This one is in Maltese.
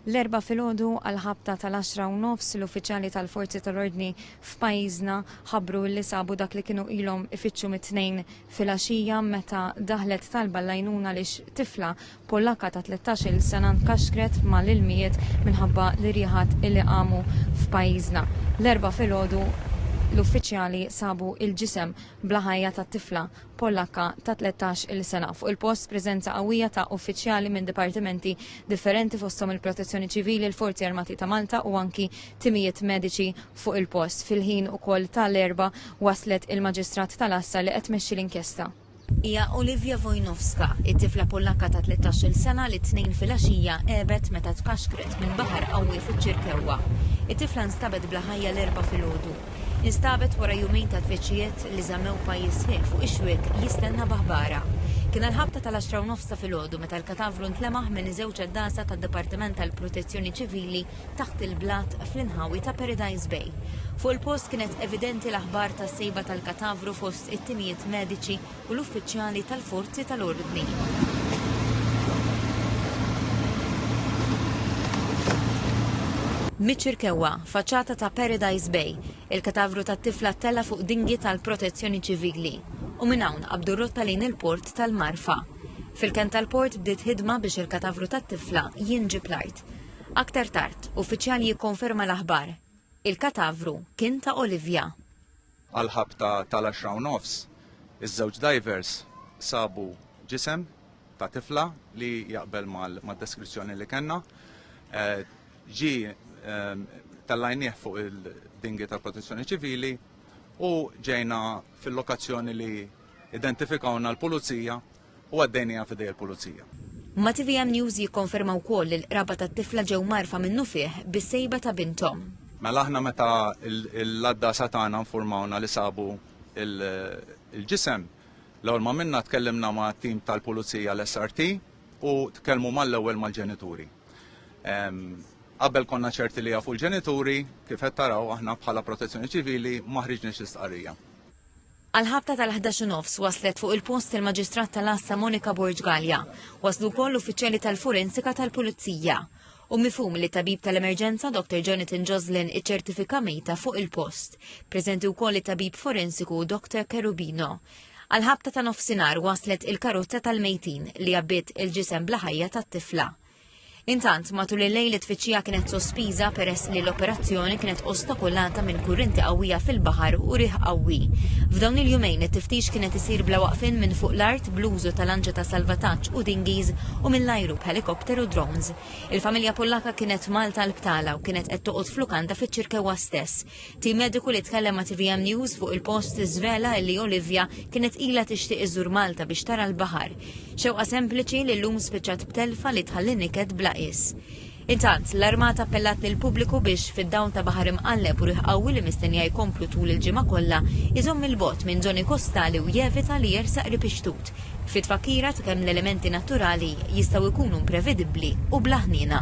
L-Erbgħa filgħodu għall-ħabta tal-għaxra u nofs l-uffiċjali tal-forzi tal-ordni f'pajjiżna ħabbru li sabu dak li kienu ilhom ifittxu mit-Tnejn filgħaxija meta daħlet talba l-għajnuna għaliex tifla Polakka ta' tlettax-il sena nkaxkret mal-ilmijiet minħabba l-irjiħat li qamu f'pajjiżna. L-Erbgħa filgħodu l-uffiċjali sabu l-ġisem bla ħajja tat-tifla Polakka ta' tlettax il sena. Fuq il-post preżenza qawwija ta' uffiċjali minn dipartimenti differenti fosthom il-Protezzjoni Ċivili, l-Forzi Armati ta' Malta u anki timijiet mediċi fuq il-post. Fil-ħin ukoll ta' l-Erbgħa waslet il-Maġistrat ta' l-Għassa li qed tmexxi l-inkjesta. Hija Olivia Wojnowska, it-tifla Polakka ta' tlettax il sena li t-Tnejn filgħaxija għebet meta tkaxkret minn baħar qawwi fiċ-Ċirkewwa. It-tifla nstabet bla ħajja l-Erbgħa filgħodu. Instabet wara jumejn ta' tfittxijiet li żammew pajjiż sħiħ fuq ix-xwiek jistenna b'aħbarha. Kien għall-ħabta tal-għaxra u nofs ta' filgħodu meta l-katavru ntlemaħ minn żewġ għeddasa tad-Dipartiment tal-Protezzjoni Ċivili taħt il-blat fl-inħawi ta' Paradise Bay. Fuq il-post kienet evidenti l-aħbar tas-sejba tal-katavru fost it-timijiet mediċi u l-uffiċjali tal-forzi tal-ordni. Miċ-Ċirkewwa, faċċata ta' Paradise Bay, il-katavru tat-tifla ttella' fuq dinghy tal-Protezzjoni Ċivili u minn hawn qabdu r-rotta lejn il-port tal-Marfa. Fil-kenn tal-port bdiet ħidma biex il-katavru tat-tifla jinġieb l-art. Aktar tard, uffiċjal jikkonferma l-aħbar. Il-katavru kien ta' Olivia. Għall-ħabta tal-għaxra u nofs, iż-żewġ divers sabu ġisem ta' tifla li jaqbel mad-deskrizzjoni li kellna. Ġie tellajnieh fuq il-dingi tal-Protezzjoni Ċivili u ġejna fil-lokazzjoni li identifikawna l-Pulizija u għaddejnieha f'idej il-Pulizija. Ma' tvm News jikkonferma wkoll li l-qraba tat-tifla ġew mgħarrfa minnufih bis-sejba ta' binthom. Mela aħna meta l-għaddasa tagħna nfurmawna li sabu l-ġisem, l-ewwel ma minna tkellimna ma' tim tal-Pulizija l-SRT u tkellmu mal-ewwel mal-ġenituri. Qabel konna ċerti li jafu l-ġenituri, kif qed taraw aħna bħala Protezzjoni Ċivili ma ħriġniex l-istqarrija. Għall-ħabta tal-ħdax u nofs waslet fuq il-post il-Maġistrat tal-Għassa Monika Borg Galea. Waslu wkoll uffiċjali tal-Forensika tal-Pulizija. U mifhum li tabib tal-emerġenza Dr. Jonathan Joslin iċċertifika mejta fuq il-post. Preżenti wkoll it-tabib forensiku Dr. Kerubino. Għal-ħabta ta' nofsinhar waslet il-karozza tal-mejtin li għabbiet il-ġisem bla ħajja tat-tifla. Intant, matul il-lejl it-tfittxija kienet sospiża peress li l-operazzjoni kienet ostakolata minn kurrenti qawwija fil-baħar u riħ qawwi. F'dawn il-jumejn it-tiftix kienet isir bla waqfien minn fuq l-art bl-użu ta' lanċa ta' salvataġġ u dinghies u mill-ajru b'helikopter u drones. Il-familja Pollakka kienet Malta l-Btala u kienet qed toqgħod f'lukanda fiċ-Ċirkewwa stess. Tim mediku li tkellem ma' TVM News fuq il-post żvela li Olivia kienet ilha tixtieq iżur Malta biex tara l-baħar. Xewqa sempliċi li llum spiċċat b'telfa li tħalli niket bla qies. Intant, l-Armata appellat lill-pubbliku biex, fid-dawl ta' baħar imqalleb u riħ qawwi li mistennija jkomplu tul il-ġimgħa kollha, iżomm 'il bogħod minn żoni kostali u jevita li jersaq qrib ix-xtut. Xi tfakkira ta' kemm l-elementi naturali jistgħu jkunu imprevedibbli u bla ħniena.